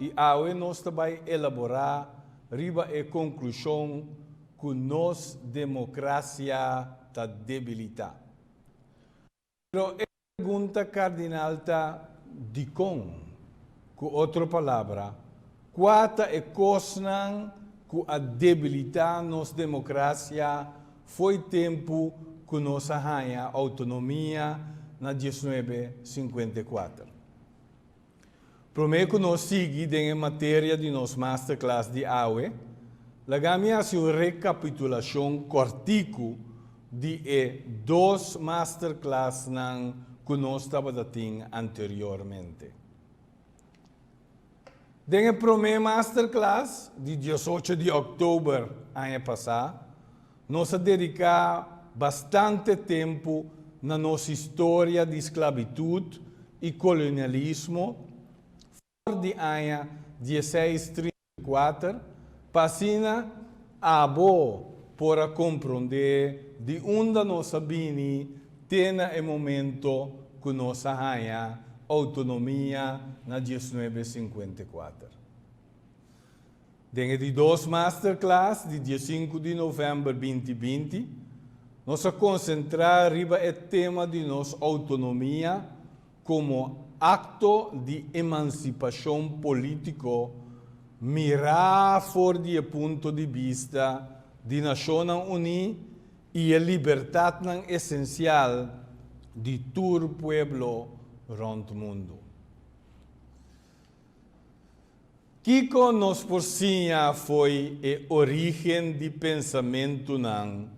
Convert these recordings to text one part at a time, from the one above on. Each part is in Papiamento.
I awe nos ta bai elaborá riba e konklushon ku nos demokrasia ta debilitá. Pero e pregunta kardinal ta, Dikon? Ku otro palabra, kua ta e kosnan ku a debilitá nos demokrasia Fo'i tempu ku nos a haña outonomia na diesnuebe sinkuenta i kuater. Promé ku nos sigui den e materia di nos masterclass di awe, laga mi hasi un rekapitulashon kòrtiku di e dos masterclassnan ku nos tabata tin anteriormente. Den e promé masterclass di diosocho di òktober aña pasá, nos a dediká bastante tempu na nos historia di sklabitut i kolonialismo for di aña dieseis trinta. Kuater, pa asina abo por a komprondé di unda nos a bini te na e momento ku nos a haña outonomia na diesnuebe sinkuenta i kuater. Den e di dos masterclass di diesinku di novèmber binti binti, nos a konsentrá riba e tema di nos outonomia, Komo akto di emansipashon polítiko mirá for di e punto di bista di Nashonnan Uní i e libertatnan esensial di tur pueblo rònt mundu. Kiko nos por siña fo'i e orígen di pensamentunan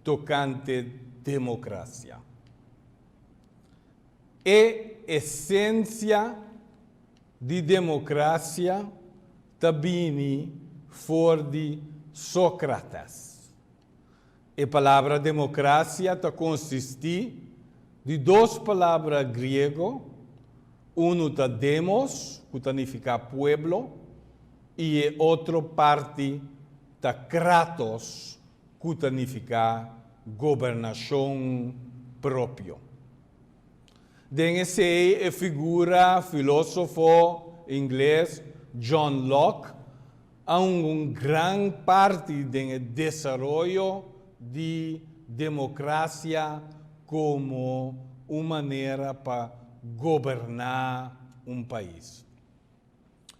tokante democracia? E esencia di democracia ta bini for di Socrates. E palabra democracia ta consisti di dos palabra griego, unu ta demos cu ta nifica pueblo y e otro parti ta kratos ku ta nifiká gobernashon propio. Den esei e figura filósofo ingles John Locke a hunga un gran parti den e desaroyo di demokrasia komo un manera pa goberná un pais.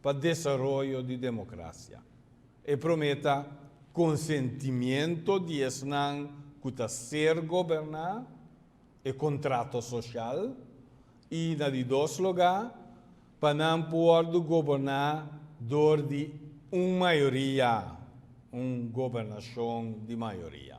pa desaroyo di democracia. E prome ta consentimiento di esnan cu ta ser goberna, e contrato social, y na di dos loga pa nan puordo goberna door di un mayoria, un gobernacion di mayoria.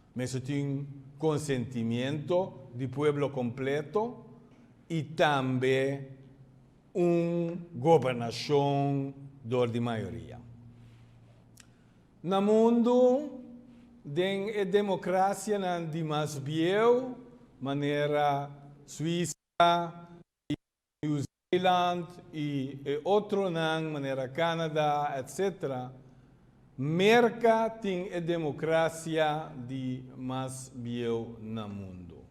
Mesun tin konsentimiento di pueblo kompleto i tambe un gobernashon dor di mayoria. Na mundu, den e demokrasianan di mas bieu, manera Suisa i New Zealand y e otronan manera Canada etc. Merca tin e democracia di mas bieu na mundo.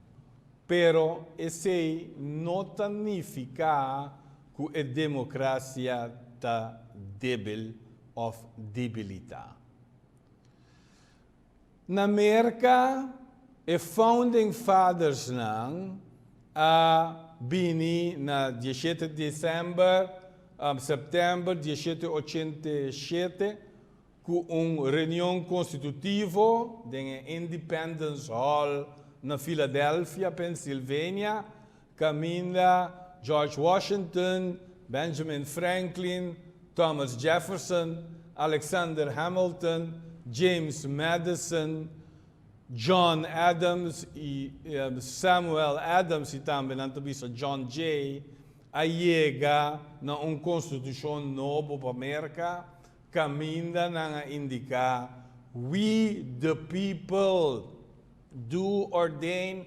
Pero esey no ta nifica cu e democracia ta debil of debilita. Na Merka e Founding Fathersnan a bini na diesiete december, september diesiete ochenta i siete cu un reunion constitutivo den e Independence Hall na Philadelphia, Pennsylvania, Caminda George Washington, Benjamin Franklin, Thomas Jefferson, Alexander Hamilton, James Madison, John Adams y Samuel Adams y tambe nan ta bisa John Jay a yega na un constitucion nobo pa Merca caminda nan a indica We the people do ordain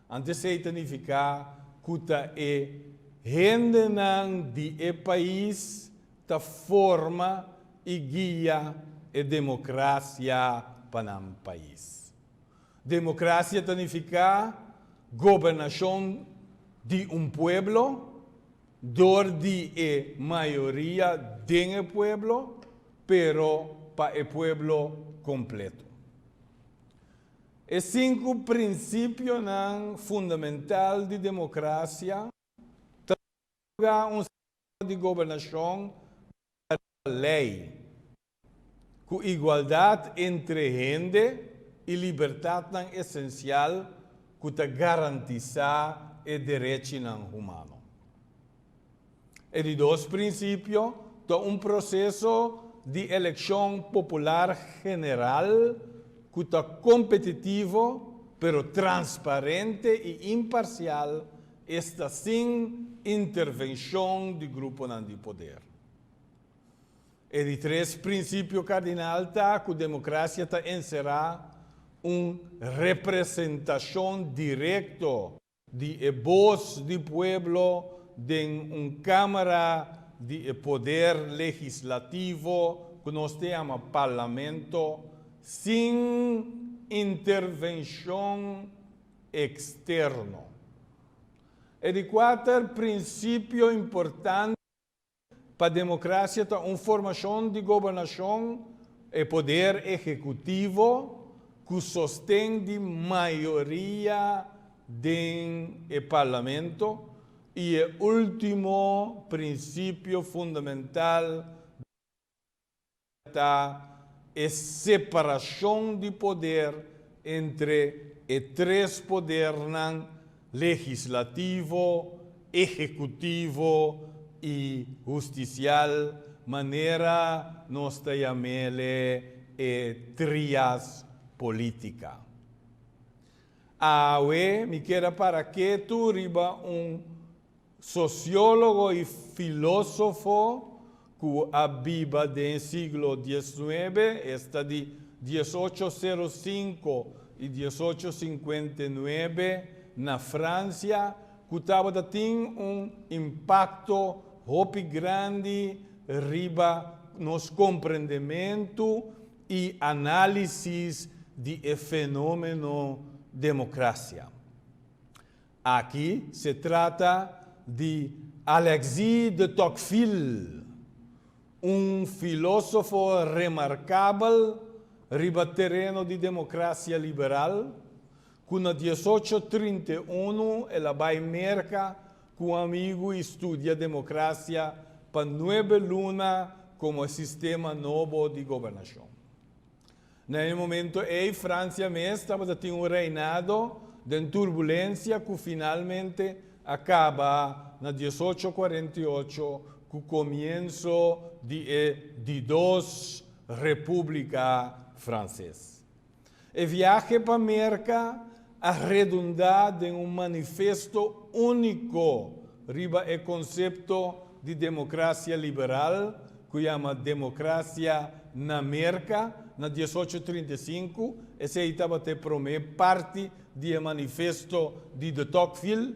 Antes ei ta nifiká ku ta e hendenan di e pais ta forma i guia e demokrasia pa nan pais. Demokrasia ta nifiká gobernashon di un pueblo dor di e mayoria den e pueblo, pero pa e pueblo kompleto. E sinku prinsipionan fundamental di demokrasia ta otorga un sistema di gobernashon basa riba lei, ku igualdat entre hende i libertatnan esensial ku ta garantisá e derechinan humano. E di dos prinsipio ta un proseso di elekshon popular general ku ta kompetitivo pero transparente i imparsial, esta sin intervenshon di gruponan di poder. E di tres prinsipio kardinal ta ku demokrasia ta enserá un representashon direkto, di e Bos di Pueblo den un Camera di e Poder Legislativo cu nos ta yama Parlamento sin intervencion externo. E di cuater principio importante. Pa democracia ta un formacion di gobernacion, e poder ehecutivo, cu sosten di mayoria den e parlamento y e ultimo principio fundamental di. Ta e separacion di poder entre e tres podernan, legislativo, ehecutivo y husticial, manera nos ta yamele e trias politica. Awe mi keda para ketu riba un. Sociólogo i filósofo ku a biba den siglo dieznuebe esta di dies ocho sero sinku i dies ocho sinkuenta i nuebe na Fransia ku tabata tin un impakto hopi grandi riba nos komprendementu i análisis di e fenómeno demokrasia. Aki se trata di Alexis de Tocqueville, un filosofo remarkabel riba tereno di democracia liberal, cu na diesocho trinta i unu el a bay Merca cu amigu y studia democracia pa nuebe luna como e sistema nobo di gobernacion. Na e momento ei Francia mes tabata tin un reinado den turbulencia cu finalmente a caba na dies ocho cuarenta y ocho cu comienzo di e di dos Republica Frances. E viahe pa Merca a redundá den un manifesto úniko riba e konsepto di demokrasia liberal ku yama Demokrasia na Merka na dies ocho trinta i sinku, esei tabata e promé parti di e manifesto di de Tocqueville,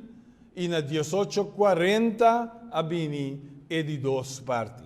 i na dies ocho kuarenta a bini e di dos parti.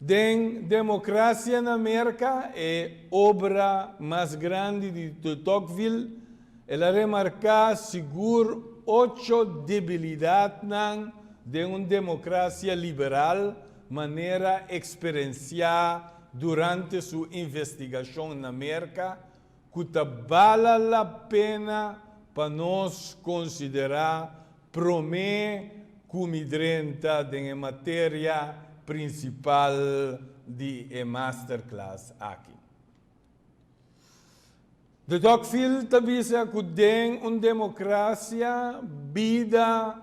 Den democracia na Merca, e obra mas grandi di de Tocqueville, el a remarca sigur ocho debilidadnan den un democracia liberal manera experencia durante su investigacion na Merca, ku ta bala la pena pa nos konsiderá promé ku mi drenta den e materia prinsipal di e masterclass aki. De Tocqueville ta bisa ku den un demokrasia bida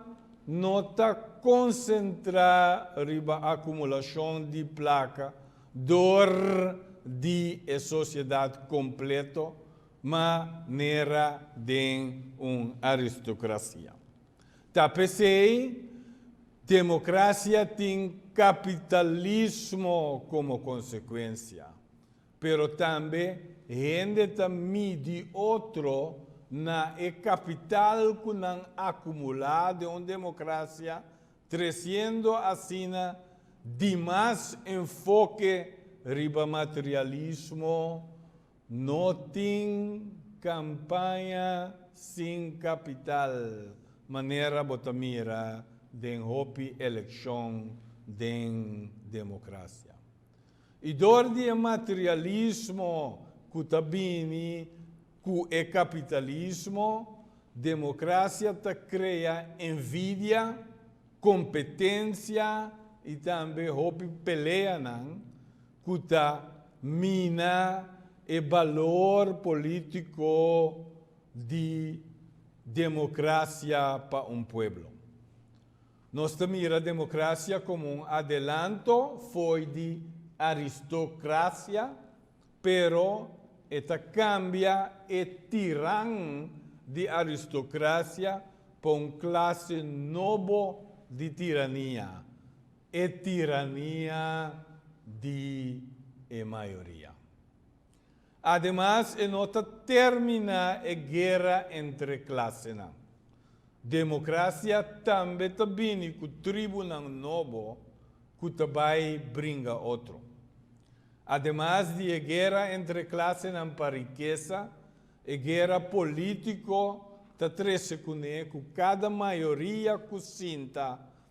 no ta konsentrá riba akumulashon di plaka, Dor di e sociedad completo manera den un aristocracia. Ta pesey democracia tin capitalismo como consecuencia, pero tambe hende ta midi otro na e capital cu nan acumula den un democracia Treciendo asina dimas enfoke riba materialismo no tin campaña sin capital manera bo ta mira den hopi eleccion den democracia. I dor di e materialismo ku ta bini ku e kapitalismo, demokrasia ta krea envidia, kompetensia i tambe hopi peleanan ku ta mina e balor polítiko di demokrasia pa un pueblo. Nos ta mira democracia como un adelanto fo'i di aristocracia, pero e ta cambia e tiran di aristocracia pa un clase nobo di tirania, e tirania di e mayoria. Ademas e no ta terminá e guera entre klasenan. Democracia tambe ta bini cu tribunan nobo cu ta bai bringa otro. Ademas di e guera entre klasenan pa rikesa, e guera politico ta trece cune cu cada mayoria cu sinta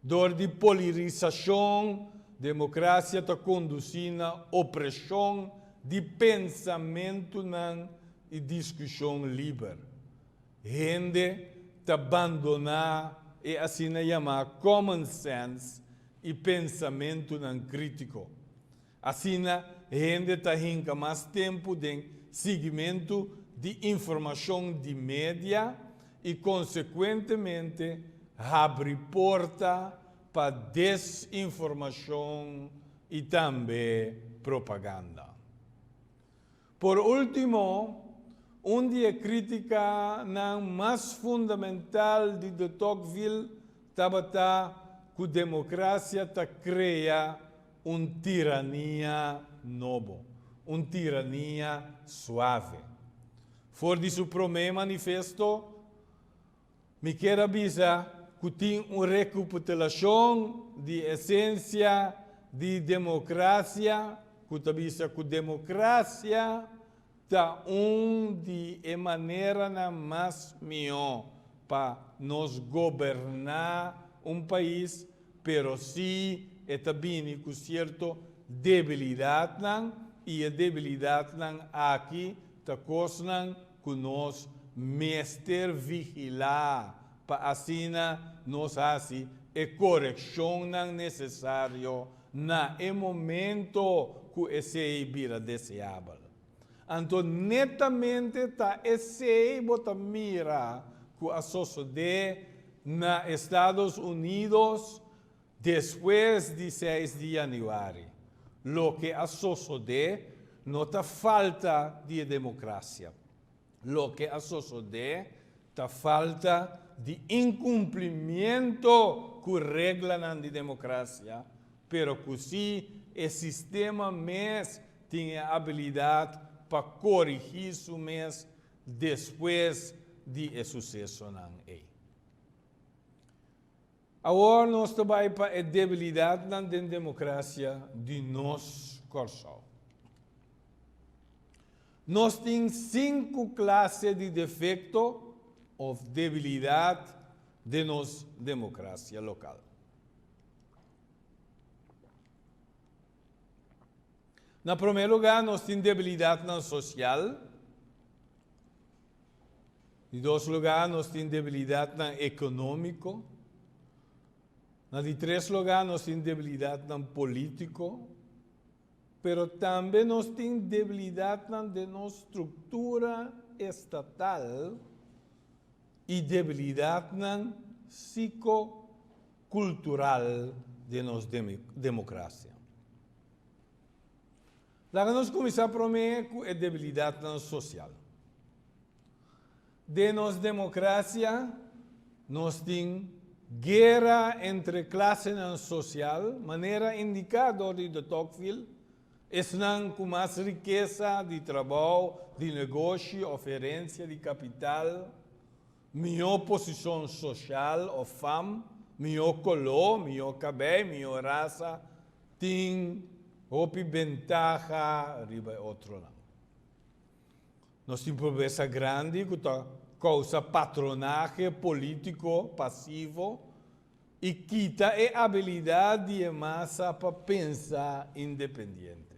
Dor di polirisashon, demokrasia ta kondusí na opreshon di pensamentunan i diskushon liber. Hende ta bandoná e asina yamá common sense i pensamentunan krítiko. Asina hende ta hinka mas tempu den sigimentu di informashon di media i konsekuentemente habri porta pa desinformashon i tambe propaganda. Por ultimo, un di e criticanan mas fundamental di de Tocqueville tabata cu democracia ta crea un tirania nobo, un tirania suave. For di su prome manifesto, Mi kier a bisa cu tin un recuputelacion di esencia di democracia cu ta bisa cu democracia ta un di e maneranan mas miho pa nos goberna un pais, pero si e ta bini cu cierto debilidadnan y e debilidadnan aki ta cosnan ku nos mester vigilá pa asina nos hasi e korekshonnan nesesario na e momento ku esei bira deseabel. Anto netamente ta esei bo ta mira ku a sosodé na Estados Unidos? Despues di seis di yanüari, loke a sosodé no ta falta di e democracia. Loke a sosodé ta falta di incumplimiento cu reglanan di democracia, pero cu si e sistema mes tin e abilidad pa corigi su mes despues di e sucesonan ey. Awor nos ta bai pa e debilidatnan den democracia di nos Corsou. Nos tin sinku clase di defecto of debilidat den nos democracia local. Na prome lugar nos tin debilidatnan social. Di dos lugá nos tin debilidatnan ekonómiko. Na di tres lugá nos tin debilidatnan polítiko. Pero tambe nos tin debilidatnan den nos struktura estatal i debilidatnan siko kultural den nos demokrasia. Laga nos kuminsá promé ku e debilidatnan sosial. Den nos demokrasia nos tin guera entre klasenan sosial, manera indiká dor di de Tocqueville, esnan ku mas rikesa di trabou, di negoshi òf herensia di kapital. mihó posishon soshal òf fam, mihó koló, mihó kabei, mihó rasa, tin hopi bentaha riba e otronan. Nos tin pobresa grandi ku ta kousa patronahe polítiko pasivo i kita e abilidat di e masa pa pensa independiente.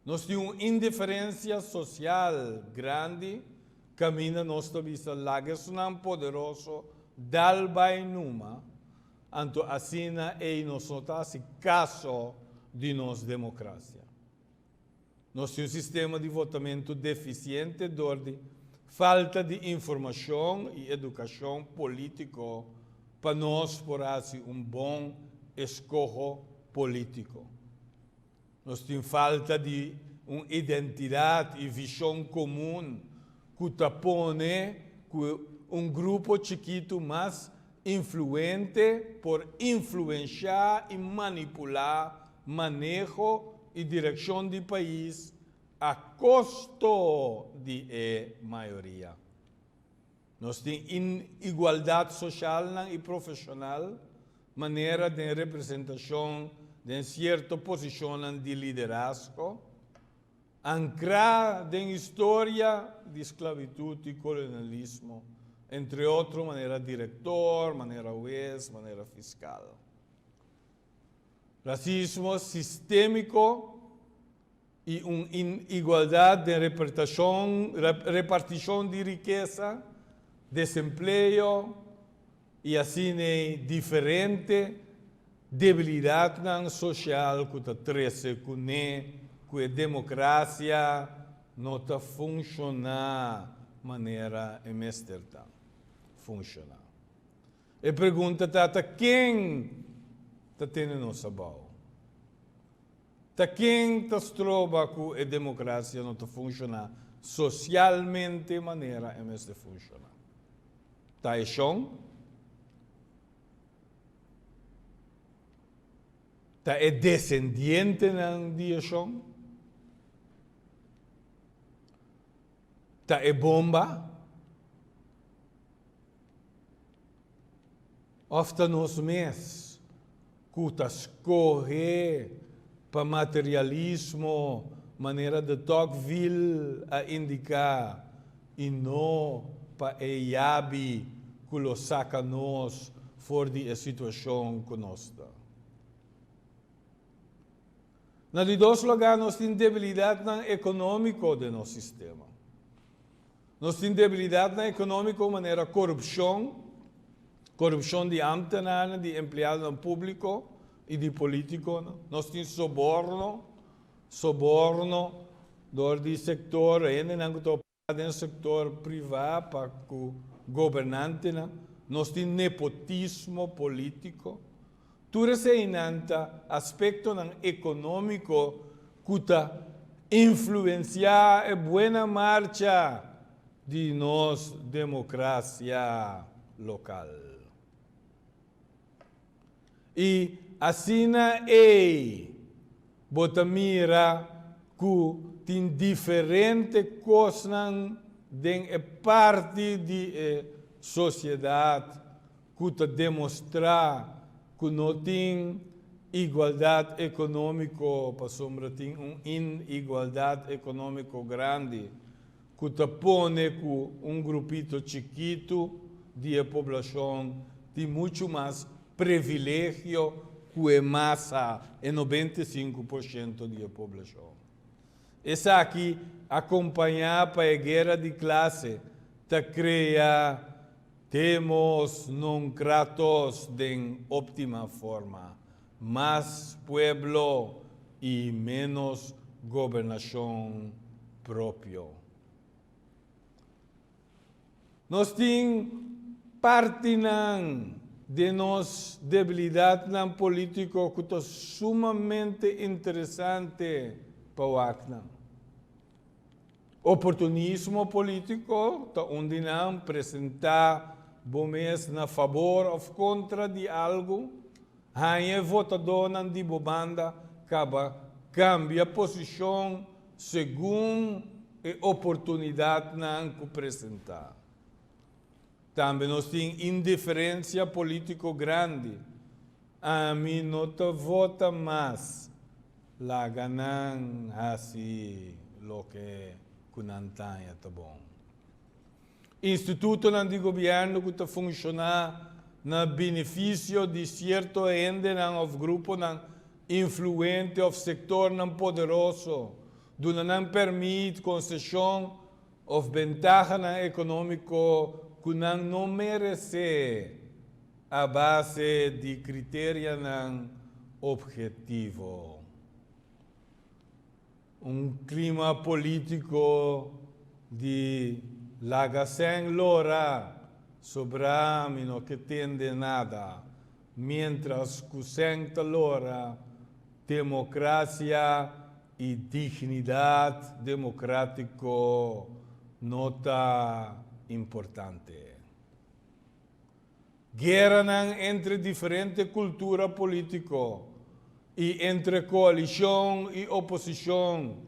Nos tin un indiferencia social grandi caminda nos ta bisa lagersnan poderoso dal bay numa, anto asina ey nos no ta haci caso di nos democracia. Nos tin un sistema di votamento deficiente door di falta di informacion y educacion politico pa nos por haci un bon escoho politico. Nos tin falta di un identidat i vishon komun ku ta pone ku un grupo chikitu mas influente por influenshá i manipulá maneho i direkshon di pais a kosto di e mayoria. Nos tin inigualdat socialnan y profesional, manera den representacion den cierto posicionnan di liderazgo, ancra den historia di sclavitud y colonialismo, entre otro manera director, manera huez, manera fiscal. Racismo sistemico i un inigualdat den repartishon di rikesa, desempleo i asina diferente debilidatnan sosial ku ta trese kuné ku e demokrasia no ta funshoná manera e mester ta funshoná. E pregunta ta, ta ken ta tene nos abou? Ta ken ta stroba ku e demokrasia no ta funshoná sosialmente manera e mester funshoná? Ta e shon? Ta e desendientenan di e shon? Ta e bomba? Òf ta nos mes ku ta skohe pa materialismo, manera de Tocqueville a indiká, i no pa e yabi ku lo saka nos for di e situashon ku nos ta? Na di dos lugá nos tin debilidatnan ekonómiko den nos sistema. Nos tin debilidadnan ekonómiko manera korupshon, korupshon di ámtenarnan, di empleadonan públiko i di polítikonan. Nos tin soborno, soborno dor di sektor, hendenan ku ta operá den sektor privá pa ku gobernantenan. Nos tin nepotismo polítiko. Tur eseinan ta aspectonan economico cu ta influencia e buena marcha di nos democracia local. Y asina ey bo ta mira cu tin diferente cosnan den e parti di e sociedad ku ta demostrá ku no tin igualdat ekonómiko pasobra tin un inigualdat ekonómiko grandi ku ta pone ku un grupito chikitu di e poblashon tin muchu mas privilegio ku e masa, e nobenta i sinku por shento di e poblashon. Esaki, akompañá pa e guera di klase, ta krea. Temos non Kratos den optima forma, mas pueblo y menos gobernacion propio. Nos tin partinan den nos debilidadnan politico cu ta sumamente interesante pa wak nan. Oportunismo polítiko ta un di nan presentá bo mes na fabor òf kontra di algu, haña e votadónan di bo banda kaba kambia posishon segun e oportunidatnan ku presentá. Tambe nos tin indiferencia politico grandi. Ami no ta vota mas. Laga nan haci loke cu nan taña ta bon. Institutonan di gobierno cu ta funciona na beneficio di cierto hendenan of gruponan influente of sectornan poderoso duna nan permit, concecion Of bentahanan ekonómiko ku nan no meresé a base di kriterianan ophetivo. Un klima polítiko di laga sèn lora sobrá mi no ke tende nada, miéntras ku sèn ta lora, demokrasia E dignidad democratico no ta importante. Gueranan entre diferente cultura politico y entre coalicion y oposicion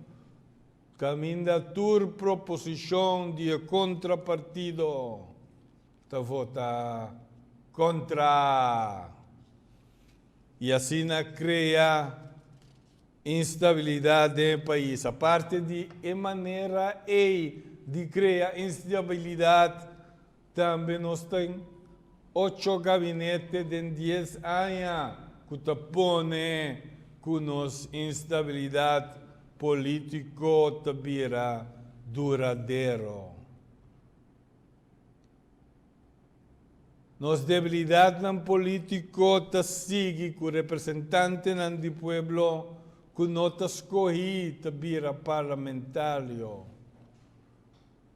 caminda tur proposicion di e contra partido ta vota contra y asina crea Instabilidat den e pais. Aparte di e manera ei di krea instabilidat, tambe nos tin ocho gabinete den dies aña ku ta pone ku nos instabilidat polítiko ta bira duradero. Nos debilidadnan polítiko ta sigui ku representantenan di pueblo ku no ta skohí ta bira parlamentario.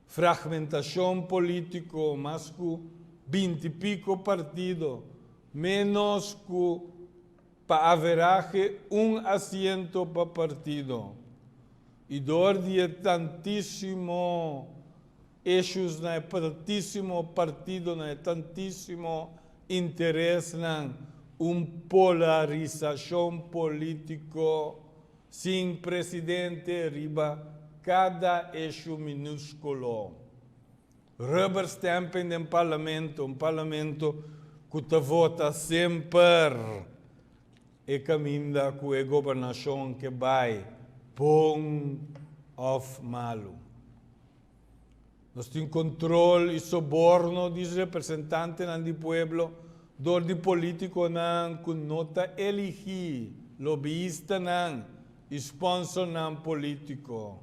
Fragmentashon polítiko, mas ku binti piko partido, ménos ku pa averahe un asiento pa partido. I dor di e tantísimo. Ishusnan e partisimo, partidonan e tantisimo, interesnan, un polarisashon politiko sin presidente riba kada ishu minúskulo. Rubber stamping den parlamento, un parlamento ku ta vota semper e kaminda ku e gobernashon ke bai, bon òf malu. Nos tin control y soborno di representantenan di pueblo door di politiconan cu no ta eligi, lobbyistanan y sponsornan politico.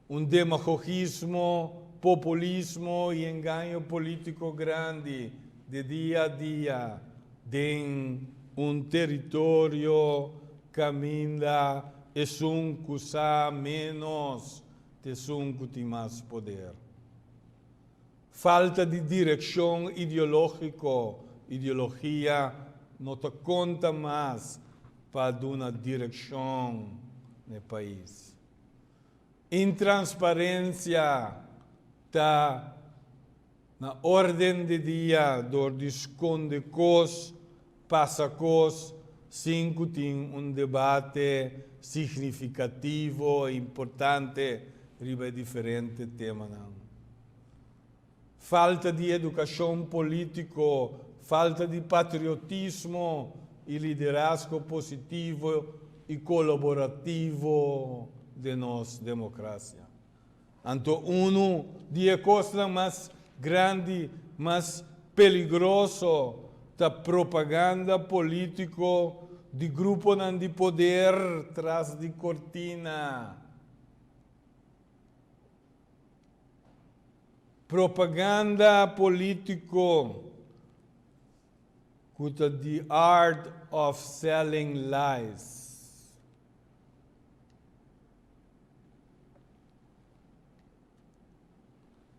Un demagogismo, populismo y engaño politico grandi de dia a dia. Den un territorio caminda esun cu sa menos T'esun cu tin mas poder. Falta di direccion ideologico, ideologia, no ta conta mas pa duna direccion n'e pais. Intransparencia ta Na orden di dia dor di skonde kos, pasa kos, sin ku tin un debate signifikativo i importante riba e diferente temanan. Falta di edukashon polítiko, falta di patriotismo i liderasko positivo i kolaborativo den nos demokrasia. Anto unu di e kosnan mas grandi, mas peligroso ta propaganda polítiko di gruponan di poder tras di kortina. Propaganda polítiko ku ta The Art of Selling Lies.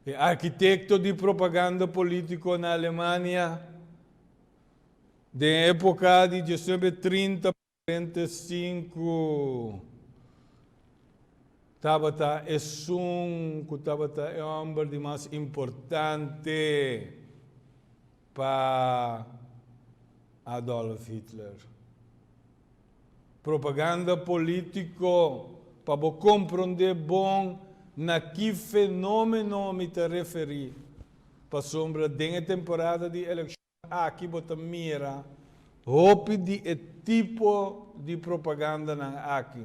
E arkitekto di propaganda polítiko na Alemania den époka di djosnuebe e trinta pa kuarenta i sinku tabata esun ku tabata e hòmber di mas importante. Pa Adolf Hitler. Propaganda polítiko pa bo komprondé bon na ki fenómeno mi ta referí, pasobra den e temporada di elekshon aki bo ta mira hopi di e tipo di propagandanan aki.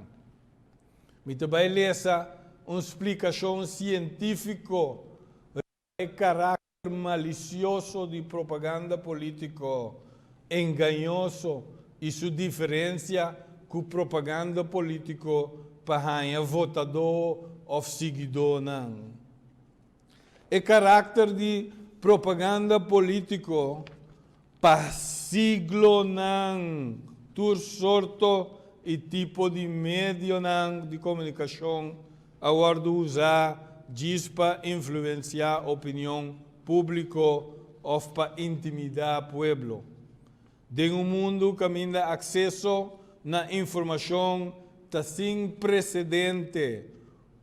Mi ta bai lesa un splikashon sientífiko riba. E karakter malisioso di propaganda polítiko engañoso i su diferensia ku propaganda polítiko pa haña votadó òf siguidónan. E karakter di propaganda polítiko. Pa siglonan, tur sorto i tipo di medionan di komunikashon a wòrdu usá djis pa influensiá opinion públiko òf pa intimidá pueblo. Den un mundu kaminda akseso na informashon ta sin presedente,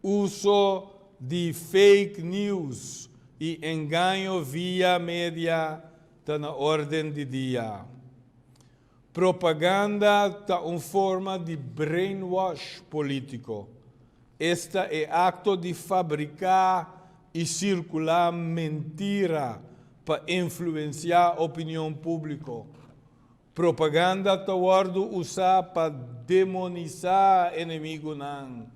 uso di fake news i engaño via media Ta na orden di dia. Propaganda ta un forma di brainwash politico. Esta e acto di fabrica y circula mentira pa influencia opinion publico. Propaganda ta wòrdu usá pa demonisá enemigunan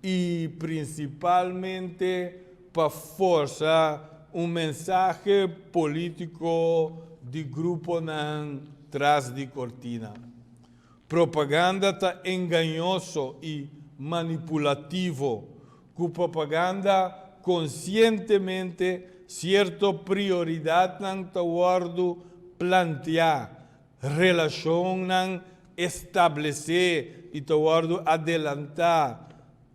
i prinsipalmente pa forsa un mensahe polítiko di gruponan tras di kortina. Propaganda ta engañoso i manipulativo Ku propaganda konsientemente sierto prioridatnan ta wòrdu planteá, relashonnan establesé i ta wòrdu adelantá,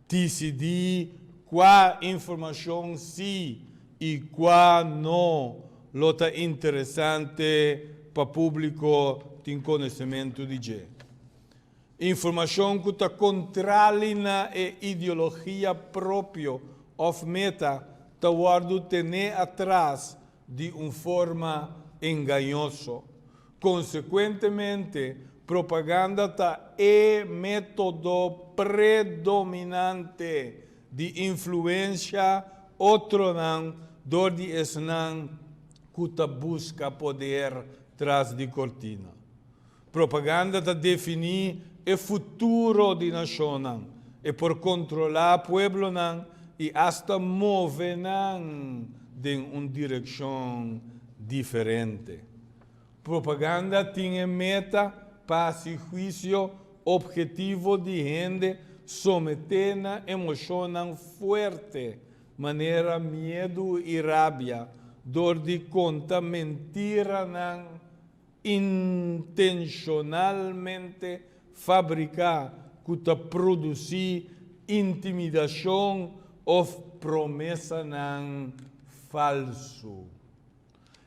disidí kua informashon sí i kua no lo ta interesante pa públiko tin konosementu di dje. Informashon ku ta kontrali na e ideologia propio òf meta ta wòrdu tené atras di un forma engañoso. Konsekuentemente, propaganda ta e método predominante di influensia otronan dor di esnan ku ta buska poder tras di kortina. Propaganda ta definí e futuro di nashonnan, e por kontrolá pueblonan i asta move nan den un direkshon diferente. Propaganda tin e meta pa hasi huisio opgetivo di hende someté na emoshonnan fuerte manera miedu i rabia dor di konta mentiranan, intenshonalmente fabriká ku ta produsí intimidashon òf promesanan falsu.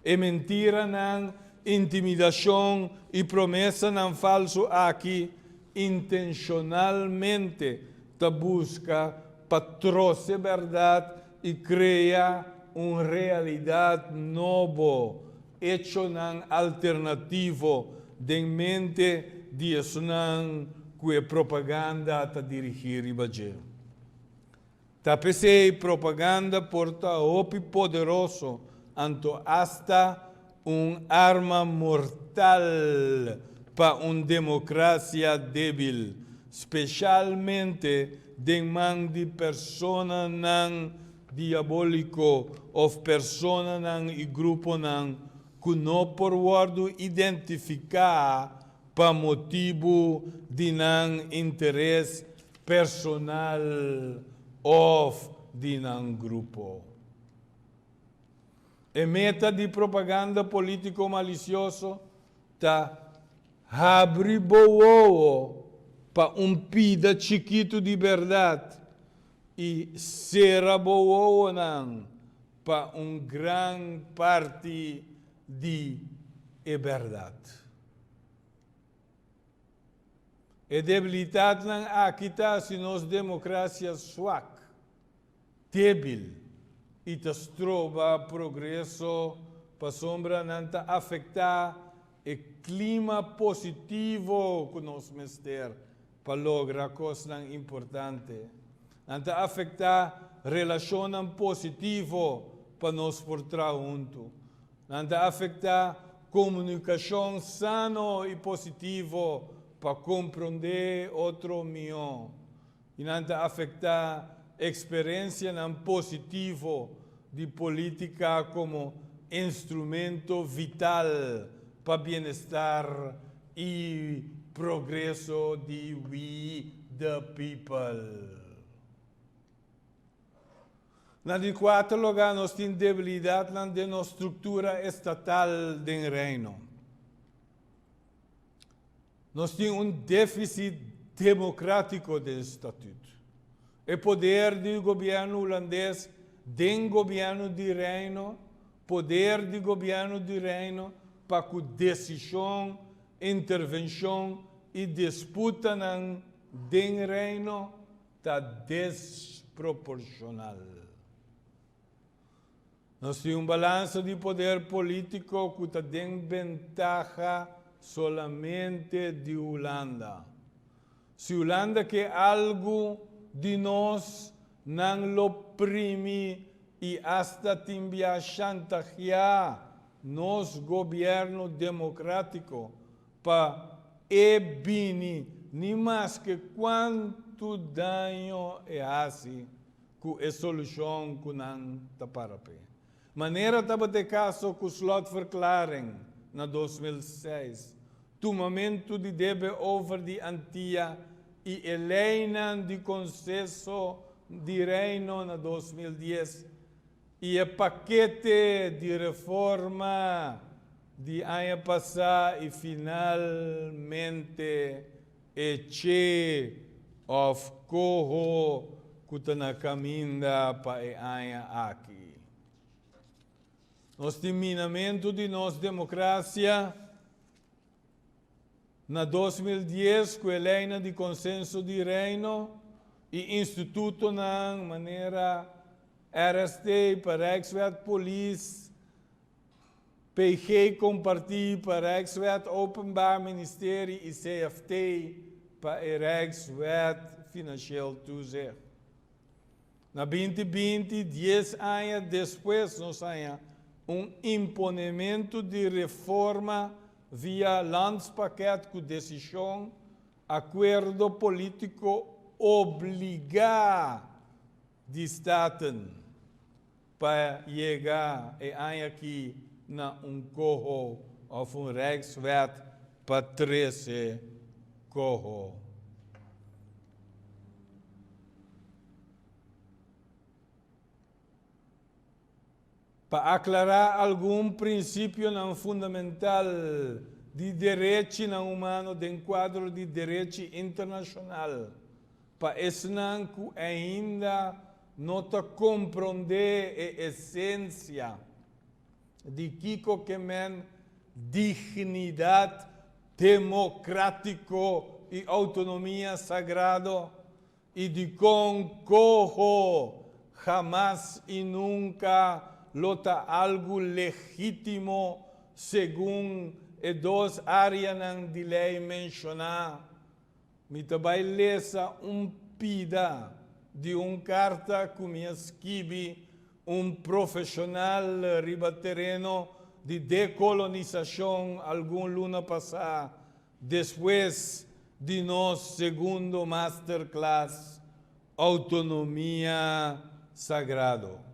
E mentiranan, intimidashon i promesanan falsu aki intenshonalmente ta busca pa troce berdad y crea un realidad nobo, hechonan alternativo den mente di esnan cu e propaganda ta dirigi riba dje. Ta pesey propaganda por ta hopi poderoso anto hasta Un arma mortal pa un democracia debil, specialmente den man di personanan diabolico of personanan y gruponan cu no por wordo identifica pa motibu di nan interes personal of di nan grupo. E meta di propaganda polítiko malisioso ta habri bo wowo pa un pida chikitu di bèrdat i sera bo wowonan pa un gran parti di e bèrdat. E debilitatnan aki ta hasi nos demokrasia suak. debil i ta stroba progreso pasobra nan ta afektá e klima positivo ku nos mester pa logra kosnan importante. Nan ta afektá relashonnan positivo pa nos por traha huntu. Nan ta afektá komunikashon sano i positivo pa komprondé otro mihó. I nan ta afecta experencianan positivo di politica como instrumento vital pa bienestar y progreso di we the people. Na di cuater lugar nos tin debilidadnan den nos structura estatal den Reino. Nos tin un défisit democrático den statut. E poder di gobierno Hulandes den gobierno di Reino, poder di gobierno di Reino pa cu decision, intervencion y disputanan den Reino ta desproporcional. Nos tin un balansa di poder polítiko ku ta den bentaha solamente di Hulanda. Si Hulanda ke algu di nos, nan lo primi i asta tin bia shantaheá nos gobièrnu demokratiko pa e bini ni maske kuantu daño e hasi. ku e solushon ku nan ta para p'e. Manera tabata e kaso ku slotverklaring na dos mil seis, tumamentu di debe over di Antia i e leinan di Konseho di Reino na dos mil dies i e pakete di reforma di aña pasá i finalmente E che of coho cu ta na caminda pa e aña aki. Nos tin minamento di nos democracia na dos mil dies cu e leynan di Consenso di Reino y institutonan manera RSD, Parrijkswet, Polis, PG kompartí pa Rijkswet Openbaar Ministerie i CFT pa e Rijkswet Finansieel Toezicht. Na binti binti, dies aña despues, nos haña un imponementu di reforma via Landspakket ku desishon, akuerdo polítiko obligá. di staten pa yega e aña aki na un coho of un Rijkswet pa trece coho. Pa aklará algun prinsipionan fundamental di derechinan humano den kuadro di derechi internashonal pa esnan ku ainda no ta komprondé e esensia di kiko ke men dignidat demokratiko i outonomia sagrado I dikon koho hamas i nunka lo ta algu legítimo segun e dos áreanan di lei menshoná? Mi ta bai lesa un pida di un karta ku mi a skibi un profeshonal riba tereno di dekolonisashon algun luna pasá Despues di nos segundo masterclass Autonomia Sagrado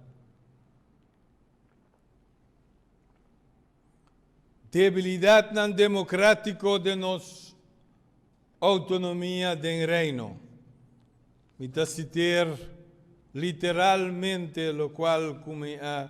Debilidadnan Democratico den nos Autonomia den Reino, mi ta citer literalmente locual cu mi a.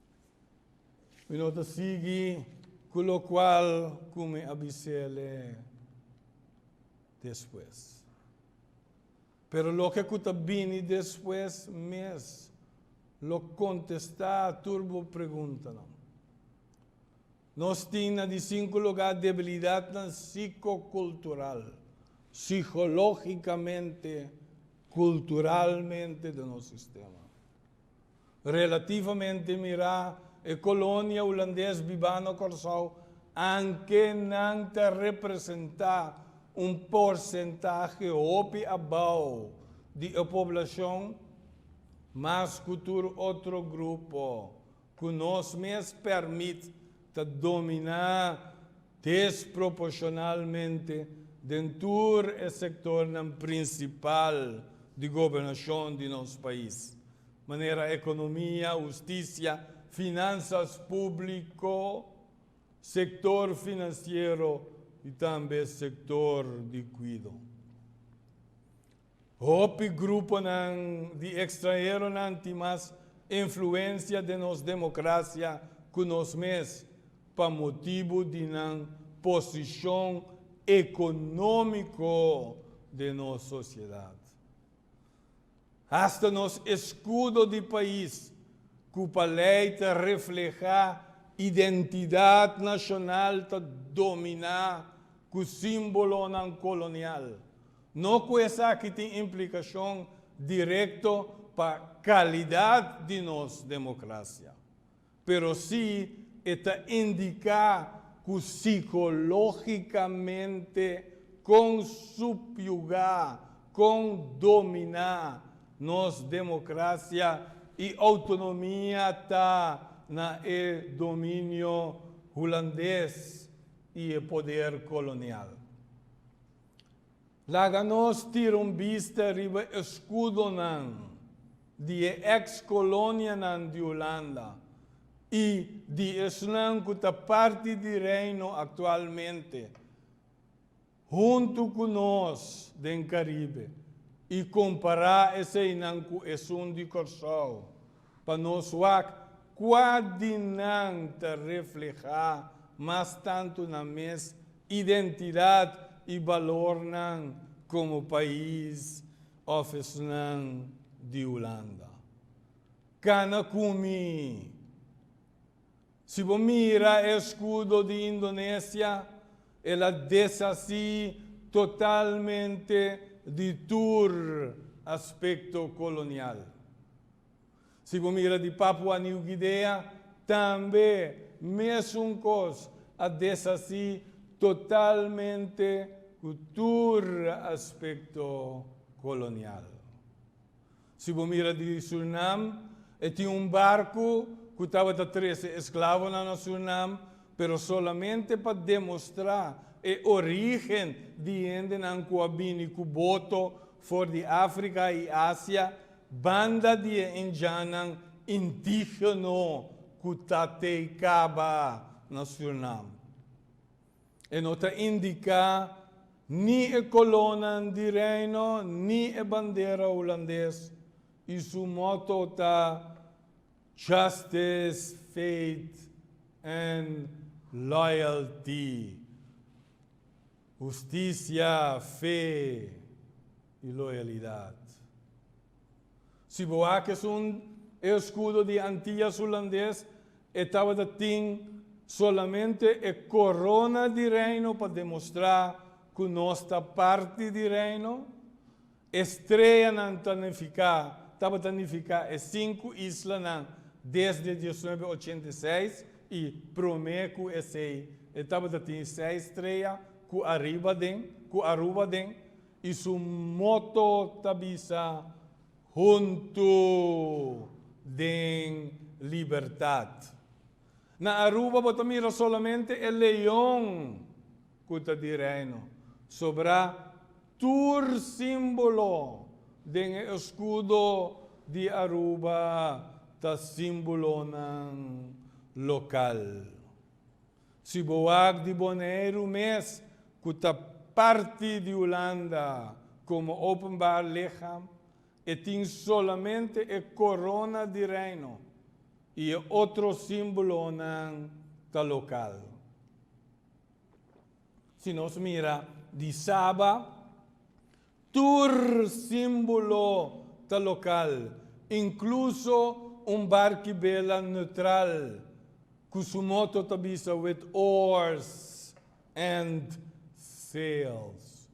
Mi no ta sigui cu locual cu mi a bisele despues. Pero loke cu ta bini despues mes lo contesta tur bo preguntanan. Nos tin na di cinco lugar debilidadnan psicocultural, psicologicamente, culturalmente den nos sistema. Relativamente mirá, e kolonia hulandes bibá na Kòrsou anke nan ta representá un porsentahe hopi abou di e poblashon, mas ku tur otro grupo ku nos mes pèrmit ta dominá desproporshonalmente den tur e sektornan prinsipal di gobernashon di nos pais, Manera economia, husticia, finanzas publico, sector financiero y tambe sector di cuido. Hopi gruponan di extranheronan tin mas influencia den nos democracia cu nos mes pa motibu di nan posicion economico den nos sociedad. Hasta nos escudo di pais cu pa ley ta refleha identidad nacional ta domina cu simbolonan colonial. No cu esaki tin implicacion directo pa calidad di nos democracia. pero si e ta indica cu psicologicamente con subyuga, con domina nos democracia y autonomia ta na e dominio Hulandes y e poder colonial. Laga nos tira un bista riba eskudonan di e eks kolonianan di Hulanda i di esnan ku ta parti di Reino aktualmente huntu ku nos den Karibe i kompará eseinan ku esun di Kòrsou pa nos wak kua di nan ta reflehá mas tantu na mes Identidad y balornan como pais of esnan di Hulanda. Cana cu mi. Si bo mira e escudo di Indonesia, el a deshaci totalmente di tur aspecto colonial. Si bo mira di Papua New Guinea tambe mesun kos a deshací totalmente ku tur aspekto kolonial. Si bo mira di Surinam e tin un barku ku tabata trese esklavonan na Surinam pero solamente pa demostrá e orígen di hendenan ku a bini ku boto for di Afrika i Asia Banda di e indiannan indigeno ku ta tei kaba na Surinam, e no ta indiká ni e kolonan di Reino ni e bandera Hulandes i su motto ta Justice, Faith and Loyalty, Hustisia, Fe. i loyalidat. Si bo hak esun e eskudo di Antillas Hulandes, e tabata tin solamente e korona di Reino pa demostrá ku nos ta parti di Reino. E streanan ta nifiká, tabata nifiká e sinku islanan desde dies nuebe ochenta i seis i promé ku esei e tabata tin seis strea ku ariba den, ku Aruba den, I su moto ta bisa, Huntu den libertat. Na Aruba bo ta mira solamente e leon ku ta di reino, sobrá tur símbolo den e eskudo di Aruba ta símbolonan lokal. Si bo wak di Boneiru mes ku ta parti di Hulanda komo openbaar licham, e tin solamente e korona di Reino i e otro símbolonan ta lokal. Si nos mira di Saba, Tur símbolo ta lokal, inkluso un barkibela neutral ku su moto ta bisa With oars and sails.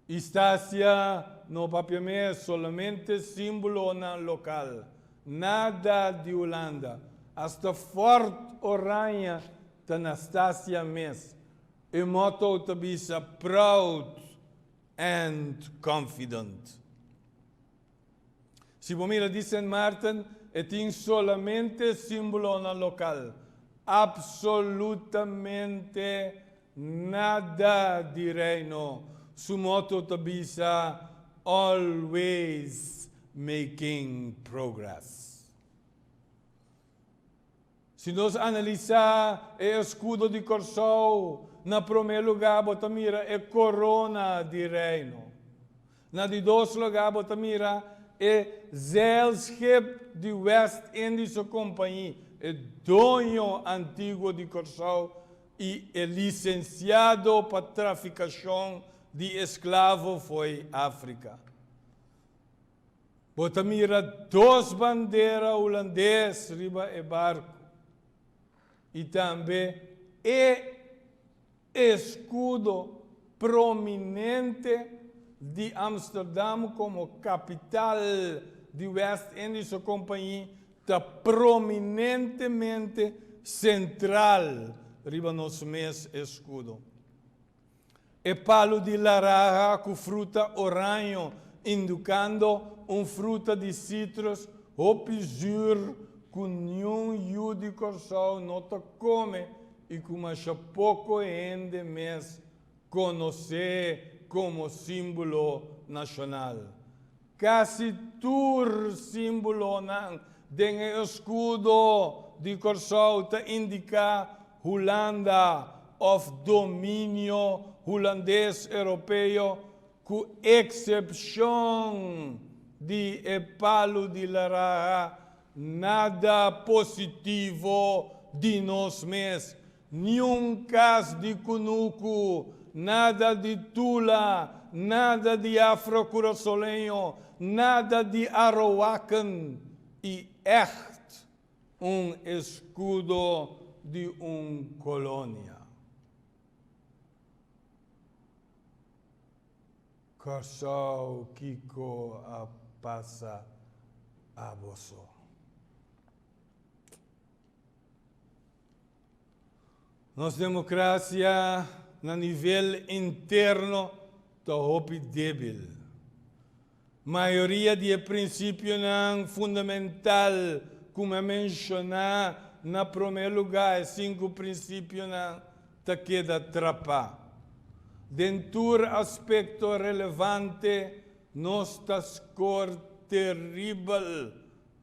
Istasia no papia mes, solamente símbolonan lokal, nada di Hulanda. Asta Fort Oranje ta na Stasia mes. E motto ta bisa Proud and Confident. Si bo mira di Sint Maarten, e tin solamente símbolonan lokal. Absolutamente nada di Reino. Su motto ta bisa Always Making Progress. Si nos analisá e eskudo di Kòrsou, na promé lugá bo ta mira e korona di Reino. Na di dos lugá bo ta mira e zeilskip di West Indies su kompañi, e doño antiguo di Kòrsou i e lisensiado pa trafikashon di esklavo fo'i Afrika. Bo ta mira dos bandera Hulandes riba e barku i tambe e eskudo prominente di Amsterdam komo kapital di West Indische Compagnie ta prominentemente sentral riba nos mes eskudo. E palu di laraha ku fruta oraño, indukando un fruta di sitrus hopi zuur ku niun yu di Kòrsou no ta kome i ku masha poko hende mes konos'é komo símbolo nashonal. Casi tur símbolonan den e escudo di Kòrsou ta indica Hulanda of dominio Hulandes-Europeo cu excepcion di e palu di laraha nada positivo di nos mes Niun kas di kunuku, nada di Tula, nada di Afro Curaçoleño, nada di Arowakan i ègt un eskudo di un kolonia. Kòrsou kiko a pasa aboso? Nos democracia na nivel interno ta hopi debil. Mayoria di e principionan fundamental cu mi a menciona na prome lugar, e cinco principionan, ta keda trapa. Den tur aspecto relevante nos ta score terrible.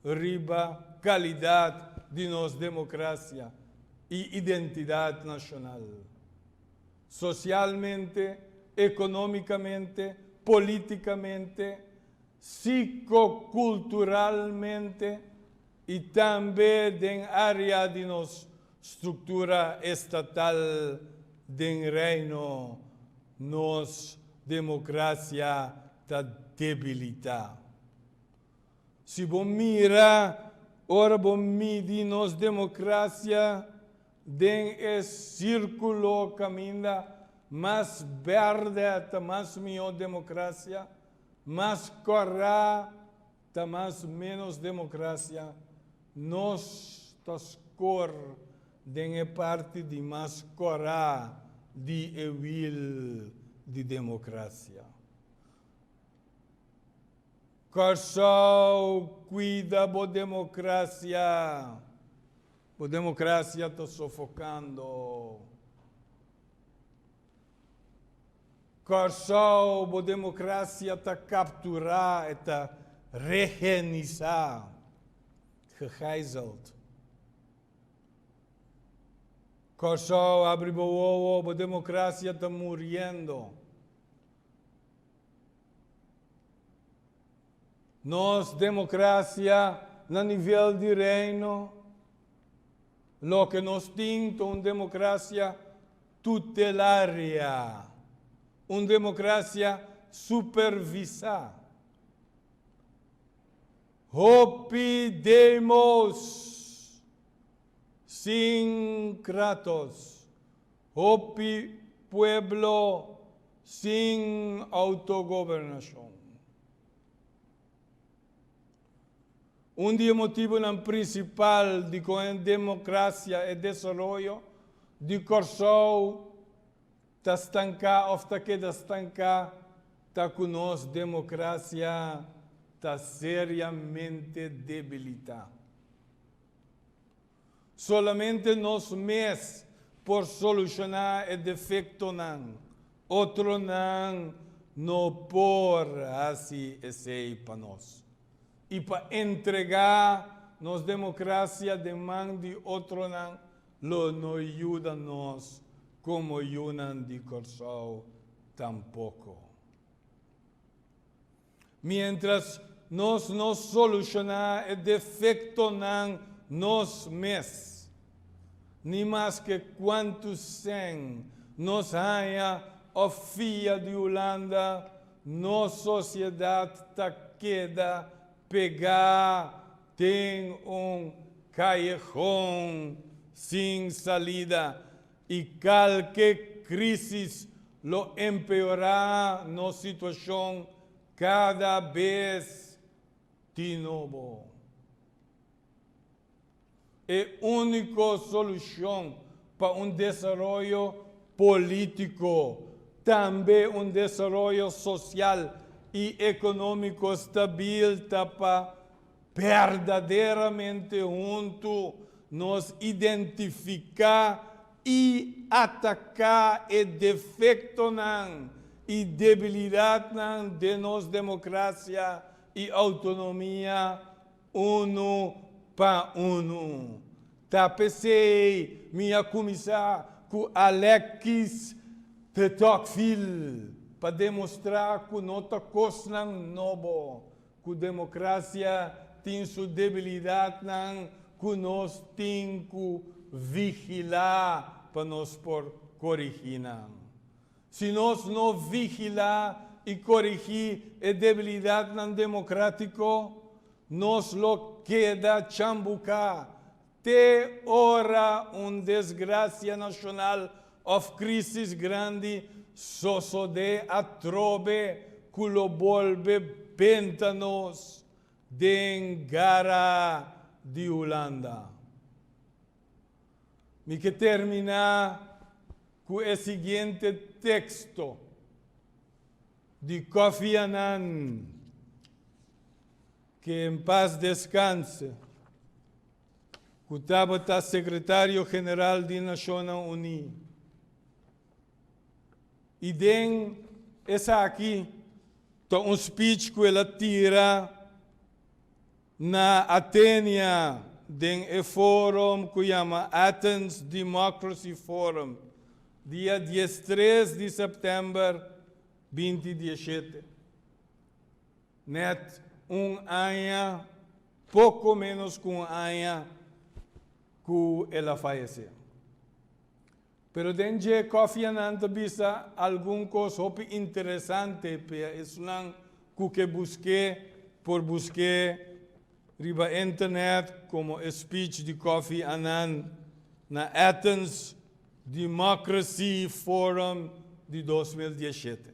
riba kalidat di nos demokrasia i identidat nashonal. Sosialmente, ekonómikamente, polítikamente, sikokulturalmente i tambe den área di nos struktura estatal den Reino nos demokrasia ta debilitá. Si bo mira ora bo midi nos democracia den e circulo caminda mas berde ta mas miho democracia, mas cora ta mas menos democracia, nos ta scor den e parti di mas cora di e wiel di democracia. Kòrsou, Kuida bo demokrasia, bo demokrasia ta sofokando. Kòrsou, bo demokrasia ta kapturá, e ta rehenisá, gegijzeld. Kòrsou, abri bo wowo, bo demokrasia ta muriendo. Nos democracia na nivel di Reino, loke nos tin ta un democracia tutelaria, un democracia supervisa. Hopi demos sin kratos. Hopi pueblo sin autogobernacion. Un di e motibonan principal di con e democracia e desaroyo di Corsou ta stanca of ta keda stanca ta cu nos democracia ta seriamente debilita. Solamente nos mes por solushoná e defektonan. Otronan no por hasi esei pa nos. I pa entregá nos demokrasia den man di otronan lo no yuda nos komo yunan di Kòrsou tampoko. Miéntras nos no solushoná e defektonan nos mes, ni maske kuantu sèn nos haña òf fia di Hulanda, nos sosiedat ta keda pegá den un kallehon sin salida. I kalke krisis lo empeorá nos situashon kada bes di nobo. E úniko solushon pa un desaroyo polítiko, tambe un desaroyo sosial i ekonómiko stabil ta pa Berdaderamente huntu nos identifiká i ataká e defektonan i debilidatnan den nos demokrasia i outonomia unu pa unu. Ta p'esei mi a kuminsá ku Alexis de Tocqueville pa demostrá ku no ta kosnan nobo Cu democracia tin su debilidadnan cu nos tin cu vigila pa nos por corigi nan. Si nos no vigila y corigi e debilidadnan democratico, nos lo keda chambuca Te ora un desgracia nacional of crisis grandi sosode atrobe cu lo bolbe benta nos den gara di Hulanda. Mi ke termina cu e siguiente texto di Kofi Annan. Que en paz descanse, cu tabata Secretario General di Nacionnan Uni. Y den esaki ta un speech cu el a tira na Athenia den e forum cu yama Athens Democracy Forum, dia diestres di september binti dieshete. Net un aña, poco menos cu un aña cu el a fayece. Pero den dje cofianan ta bisa algun cos hopi interesante p'e esunnan cu ke busqué por busqué riba internet como e speech di Kofi Annan na Athens Democracy Forum di dos mil diesshete.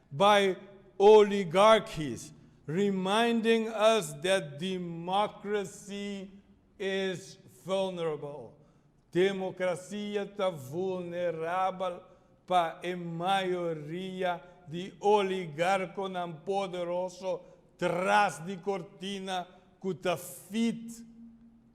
by oligarchies, reminding us that democracy is vulnerable, Democracia ta vulnerabel pa e mayoria di oligarconan poderoso tras di cortina cu ta feed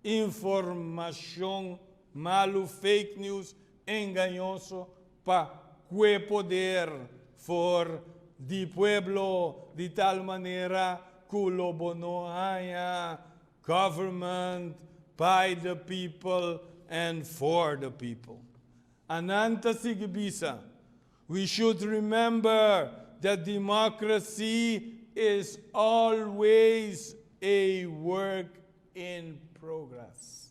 informacion malu, fake news, engañoso pa cue poder for di pueblo di tal manera cu lo bo no haña government by the people and for the people. Anan ta sigui bisa, We should remember that democracy is always a work in progress.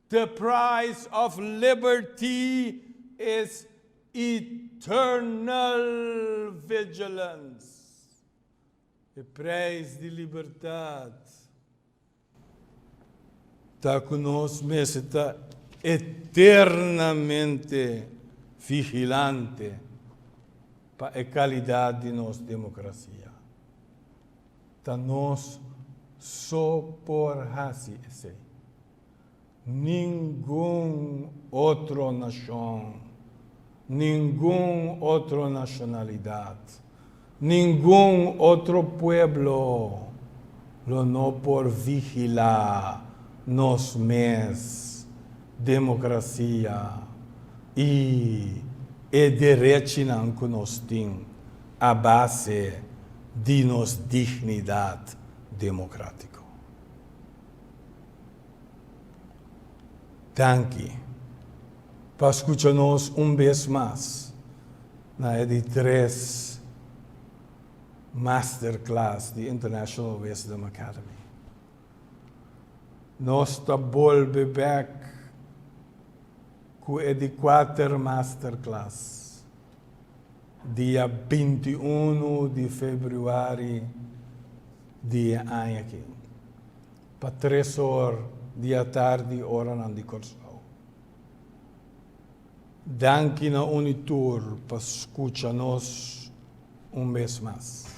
The price of liberty is eternal vigilance, e prijs di libertad ta cu nos mester ta eternamente vigilante pa e calidad di nos democracia. Ta nos so por haci esey. Ningun otro nashon, ningun otro nashonalidat, ningun otro pueblo lo no por vigilá nos mes demokrasia i e derechinan ku nos tin a base di nos dignidat demokratiko. Danki pa skucha nos un bes mas na e di tres masterclass di International Wisdom Academy. Nos ta bolbe bek ku e di kuater masterclass. Dia binti unu di februari di e aña aki, pa tres or di atardi oranan di Kòrsou. Danki na Unitur pa skucha nos un bes mas.